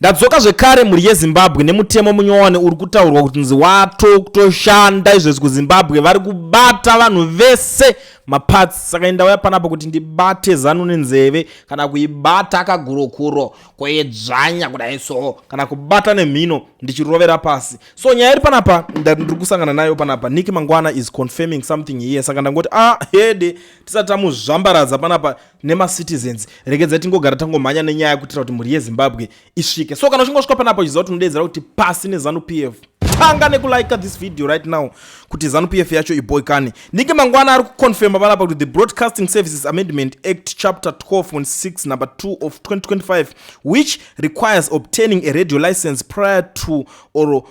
Ndadzoka zvekare mhuri yeZimbabwe nemutemo munyowani uri kutaurwa kuti nzi wato kutoshanda izvezvi kuZimbabwe vari kubata vanhu vese maparts saka indauya panapa kuti ndibate zanu nenzeve kana kuibata kagurokuro koedzvanya kudai so kana kubata nemhino ndichirovera pasi so nyaya iri panapa ndiri kusangana nayo panapa niki mangwana is confirming something here saka ndangoti ah hede tisati tamuzvambaradza panapa nemacitizens regedza tingogara tangomhanya nenyaya kuitira kuti mhuri yezimbabwe isvike so kana uchingosvika panapa uchiziva kuti unodeedzera kuti pasi nezanu p f tanga nekulike this video right now kuti zanu p f yacho iboikane ndinge mangwana ari kuconfirma panapa kuti the broadcasting services amendment act chapter 12 on 6 number 2 of 2025 which requires obtaining a radio license prior to or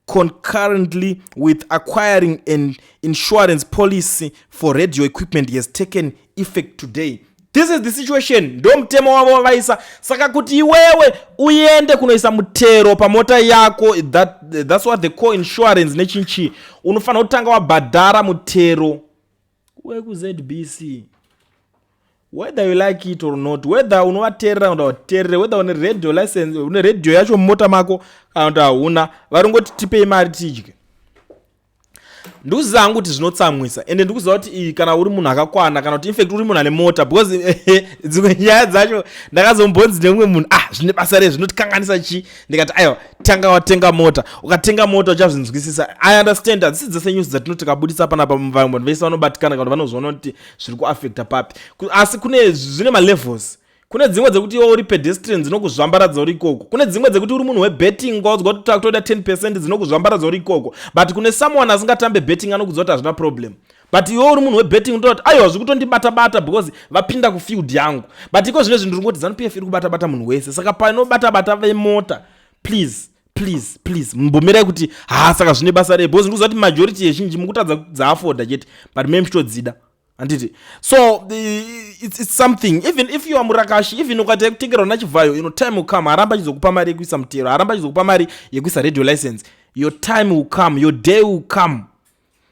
concurrently with acquiring an insurance policy for radio equipment has taken effect today this is the situation ndo mutemo wavo wavaisa saka kuti iwewe uende kunoisa mutero pamota yako that, that's what the co insurance nechinchi unofanira kutanga wabhadhara mutero wekuzbc whether you like it or not whether unovateerera kuda kuteerere whether une radio license une radio yacho mumota mako kana kuti hauna varingoti tipei mari tidye ndikuziva hangu kuti zvinotsamwisa ende ndikuziva kuti iyi kana uri munhu akakwana kana kuti infact uri munhu ane mota because eh, eh, dzimwe nyaya dzacho ndakazombonzi nemumwe munhu ah zvine basa rezvinotikanganisa chii ndikati aiwa tanga watenga mota ukatenga mota uchazvinzwisisa i understand hadzisi dzese news dzatino tikabudisa panapa vamwe vanhu vese vanobatikana kana kuti vanozviona kuti zviri kuaffecta papi asi kune zvine malevels kune dzimwe dzekuti iwe uri pedestrian dzinokuzvambaradza uri ikoko kune dzimwe dzekuti uri munhu webetting kwaudzwa kuti takutoda 10 percent dzinokuzvambaradza uri ikoko but kune someone asingatambe betting anokudzwa kuti hazvina problem but iwe uri munhu webetting unotoa kuti aiwa zviri kutondibata bata because vapinda kufield yangu but iko zvino zvinhu ndiri kungoti zanu pf iri kubata bata munhu wese saka panobata bata vemota please please please mumbomirai kuti haa saka zvine basa rei because ndikuziva kuti majority yezhinji mukutadza dzaafoda chete but me muchitodzida handiti so it's, it's something even if you are murakashi even ukaita yekutengerwa nachivhayo you know time will come haramba achizokupa mari yekuisa mutero haramba achizokupa mari yekuisa radio license your time will come your day will come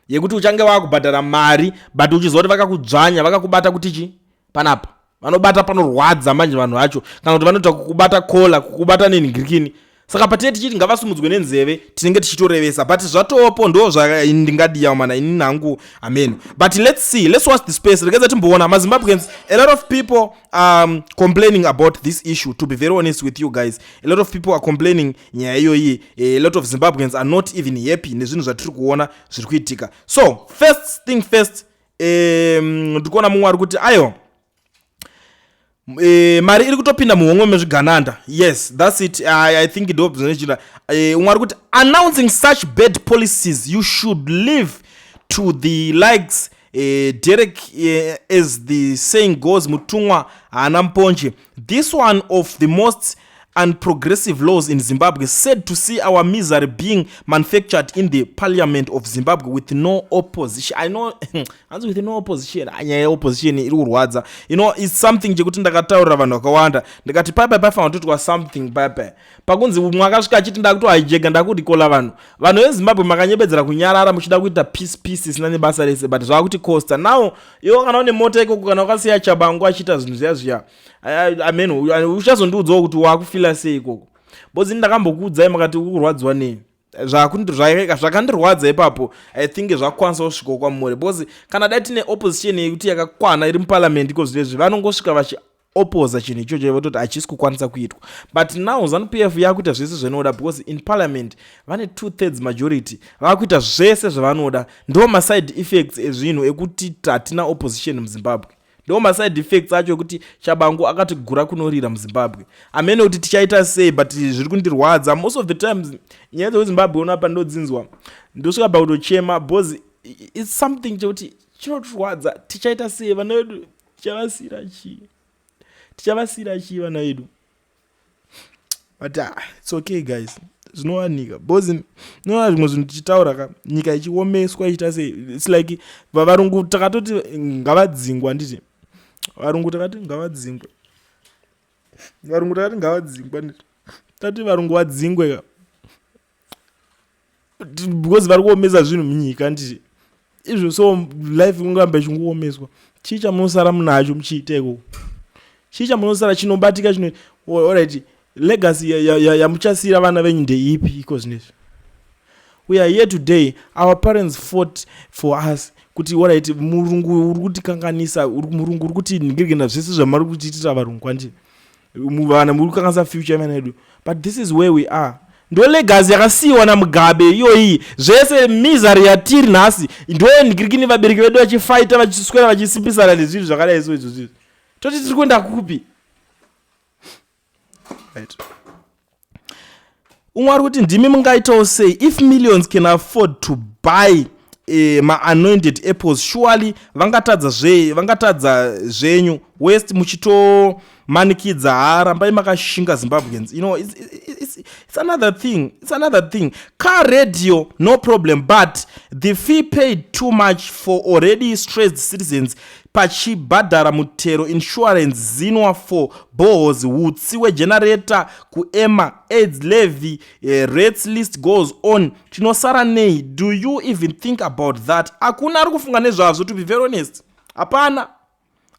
yekuti uchange wakubhadhara mari but uchiziva kuti vakakudzvanya vakakubata kuti chi panapa vanobata panorwadza manje vanhu vacho kana kuti vanoita kukubata kola kukubata nenhingirikini saka patinee tichiti ngavasumudzwe nenzeve tinenge tichitorevesa but zvatopo ndo zvandingadiyawo mana ini nangu ameno but let's see let's watch the space rekeza timboona mazimbabweans a lot of people um, complaining about this issue to be very honest with you guys a lot of people are complaining nyaya iyoyi Eh, a lot of zimbabweans are not even happy nezvinhu zvatiri kuona zviri kuitika so first thing first ndiri kuona mumwe ari kuti ayo E, mari iri kutopinda muhomwe mezvigananda yes thats it i, I think ndozvinochita e, eh, umwe ari kuti announcing such bad policies you should live to the likes e, derek e, as the saying goes mutumwa haana mponje this one of the most and progressive laws in Zimbabwe said to see our misery being manufactured in the parliament of Zimbabwe with no opposition. I know, hanzi with no opposition, anyaya yeopposition iri kurwadza. You know, it's something chekuti ndakataurira vanhu vakawanda. Ndikati paipai paifanira kutotwa something paipai. Pakunzi mwakasvika achiti ndakuto hijega ndakudikola vanhu. Vanhu veZimbabwe makanyebedzera kunyarara muchida kuita peace peace isina nebasa rese but zvakuti costa. Now, iwo kana une mota ikoko kana ukasiya chabangu achiita zvinhu zviya zviya. amen uchazondiudzawo kuti wakufila sei ikoko bcause ini ndakambokuudzai makati ukurwadziwa nei zvakandirwadza ipapo i think zvakukwanisa kusvikawo kwamuri bcause kana dai tine opposition yekuti yakakwana iri muparliament iko zvirezvi vanongosvika vachi opoza chinhu ichocho vototi hachisi kukwanisa kuitwa but now zanu p f yakuita zvese zvinoda because in parliament vane two thirds majority vakuita zvese zvavanoda ndo maside effects ezvinhu ekuti hatina opposition muzimbabwe ndo maside effects acho ekuti chabangu akatigura kunorira muzimbabwe amene kuti tichaita sei but zviri kundirwadza most of the times nyaya dzekuzimbabwe unapa ndodzinzwa ndosvika pakutochema bcause its something chekuti chinotirwadza tichaita sei vana vedu tichavasira chii tichavasira chii vana vedu but uh, it's okay guys zvinowanika bcause nona zvimwe zvinhu tichitaura ka nyika ichiomeswa ichiita sei its like varungu takatoti ngavadzingwa nditi varungu takati ngavadzingwe varungu takati ngavadzingwa nditi tati varungu vadzingwe ka because vari kuomesa zvinhu munyika ndii izvo so life kungamba ichingoomeswa chii chamunosara munacho muchiiteko chii chamunosara chinobatika chino orit legacy yamuchasiira ya, ya, ya vana venyu ndeipi iko zvinezvi we are here today our parents fought for us kuti orit murungu uri kutikanganisa murungu uri kuti ndigirigenda zvese zvamari kutiitira varungu kwandii vana muri kukanganisa future vana vedu but this is where we are ndo legacy yakasiyiwa namugabe iyoyi zvese misery yatiri nhasi ndo ndikirikini vabereki vedu vachifaita vachiswera vachisimbisana nezvinhu zvakadai so izvozvizvi toti tiri kuenda kupi right. umwe ari kuti ndimi mungaitawo sei if millions can afford to buy eh, maanointed apples surely vangatadza zve vangatadza zvenyu west muchitomanikidza ha rambai makashinga zimbabweans you know it's, it's, it's another thing it's another thing car radio no problem but the fee paid too much for already stressed citizens pachibhadhara mutero, insurance, zinwa for boreholes, hutsi wegenerator, kuEMMA, aids levy, eh, rates list goes on. Tinosara nei? Do you even think about that? Hakuna ari kufunga nezvazvo to be very honest. Hapana.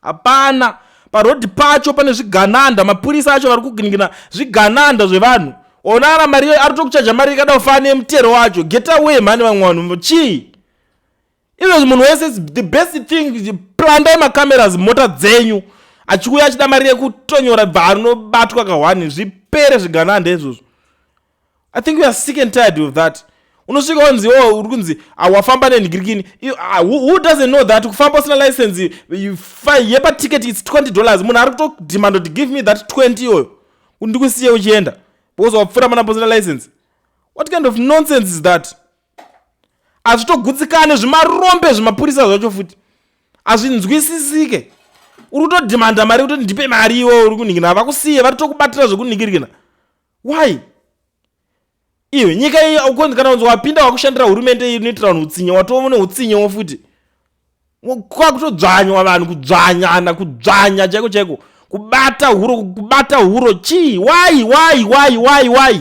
Hapana. Parodi pacho pane zvigananda, mapurisa acho vari kuginigina zvigananda zvevanhu. Ona ara mari ari tokuchaja mari ikada kufana nemutero wacho. Get away mhani vamwe vanhu. Chii? izvozvi munhu wese the best thing plandai macameras mota dzenyu achikuuya achida mari yekutonyora bva anobatwa kahwani zvipere zviganande izvozvo i think weare sick and tired of that unosvika wanzi o oh, uri kunzi ah, wafamba nenhigirikini ah, who doesn't know that kufamba usina license yepaticket its 20 dollars munhu ari kutodimando to give me that 20 iyoyo ndikusiye uchienda because wapfura mana posina license what kind of nonsense is that hazvitogutsikane zvimarombe zvimapurisa zvacho futi hazvinzwisisike uri kutodhimanda mari kutoti ndipe mari iwo uri kunhikina vakusiye vari tokubatira zvekunhikirikina why iwe nyika iyi aukonzi kana kunzi wapinda wakushandira hurumende inoitira vanhu utsinye watovo neutsinyewo futi kwakutodzvanywa vanhu kudzvanyana kudzvanya chaiko chaiko kubata huro kubata huro chii why why why why why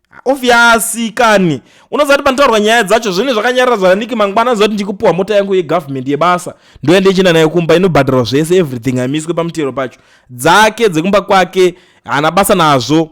obviously kani unozati panotaurwa nyaya dzacho zvinhu zvakanyarira zvaniki mangwana zoti ndikupiwa mota yangu yegovernment yebasa ndoenda ichienda nayo kumba inobhadharwa zvese everything amiswe pamutero pacho dzake dzekumba kwake haana basa nazvo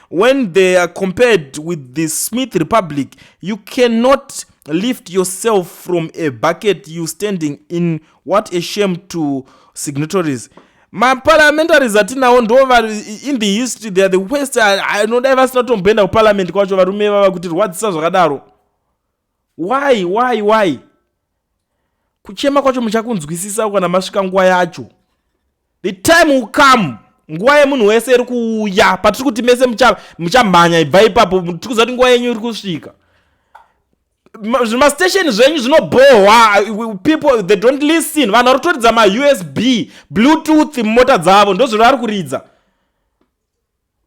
when they are compared with the smith republic you cannot lift yourself from a bucket you standing in what a shame to signatories maparliamentaries atinawo ndo in the history theyare the west anodai vasina tomboenda kuparliament kwacho varume vava kuti rwadzisa zvakadaro why why why kuchema kwacho muchakunzwisisa kana masvika nguva yacho the time will come nguva yemunhu wese iri kuuya patiri kuti mese muchamhanya ibva ipapo tiri kuziva kuti nguva yenyu iri kusvika zvimastation zvenyu zvinobhohwa people they don't listen vanhu vari kutoridza mausb bluetooth mumota dzavo ndozviri vari kuridza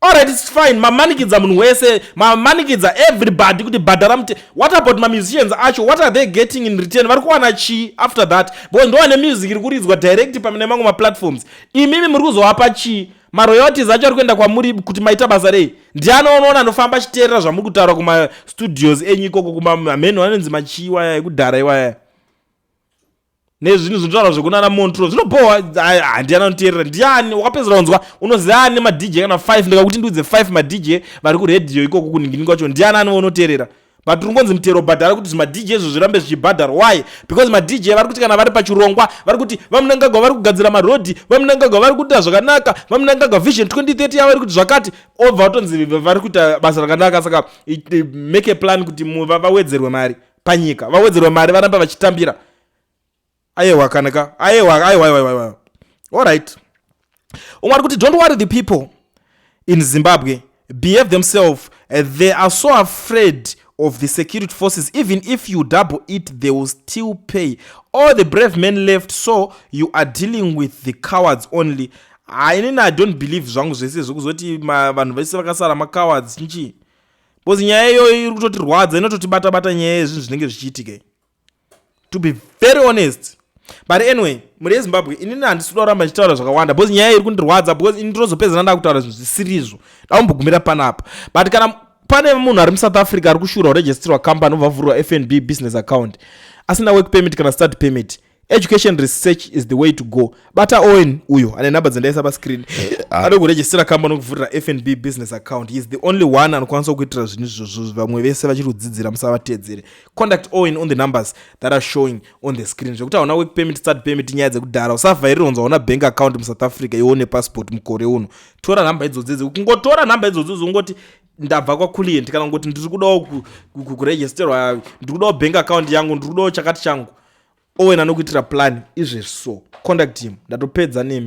Alright, it's fine. Mamanikidza munhu wese, mamanikidza everybody kuti bhadhara mute. What about ma musicians acho? What are they getting in return? Vari kuwana chi after that? Because ndo ane music iri kuridzwa direct pamene mangu ma platforms. Imimi muri kuzowapa chi? Ma royalties acho ari kuenda kwamuri kuti maita basa rei? Ndiani anoona anofamba chiterera zvamuri kutaura kuma studios enyu ikoko kuma mheno anonzi machiwa ya ekudhara iwaya. nezvinhu zvinotaura zvekunana montro zvinobhohwa handiani anoteerera ndiani wakapedzera kunzwa unoziva ani madj kana 5 ndikakuti ndiudze 5 madj vari kuradio ikoko kuningini kwacho ndiani ani vaunoteerera but uri ngonzi mutero bhadhara kuti zvimadj izvo zvirambe zvichibhadhara why because madj vari kuti kana vari pachirongwa vari kuti vamunangagwa vari kugadzira marodhi vamunangagwa vari kuita zvakanaka vamunangagwa vision 2030 yavari kuti zvakati obva vatonzi vari kuita basa rakanaka saka make a plan kuti vawedzerwe mari panyika vawedzerwa mari varamba vachitambira ayewa kana ka ayewa ayewa ayewa ayewa all right umwe ari kuti don't worry the people in zimbabwe behave themselves eh, they are so afraid of the security forces even if you double it they will still pay all the brave men left so you are dealing with the cowards only hainini ah, i don't believe zvangu zvese zvekuzoti vanhu vese vakasara macowards nchii bcause nyaya iyoyo iri kutotirwadza inototibata bata nyaya yezvinhu zvinenge zvichiitika to be very honest but anyway mhuri yezimbabwe inini handisi kuda kuramba ndichitaura zvakawanda bcause nyaya iri kundirwadza bcause ini ndinozopedzana ndakutaura zvinhu zvisirizvo ndaumbogumira panapa but kana pane munhu ari musouth africa ari kushura kuregistrwa company obva vhurwa fnb business account asina work permit kana start permit education research is the way to go bata owen uyo ane number dzendaisa pascreen eh, ah. anoda kurejistira kamba nokuvhurira fnb business account he is the only one anokwanisa kuitira zvinhu izvozvo vamwe vese vachiri kudzidzira musavatedzere conduct owen on the numbers that are showing on the screen zvekuti hauna work permit start permit nyaya dzekudhara usavhairira unzi hauna bank account musouth africa iwo nepassport mukore uno tora nhamba idzodzo dze kungotora nhamba idzodzo dzongoti ndabva kwaclient kana kungoti ndiri kudawo kuregisterwa ndiri kudawo bank account yangu ndiri kudawo chakati changu Owen anokuitira plan izvezvi so contact him ndatopedza nemi.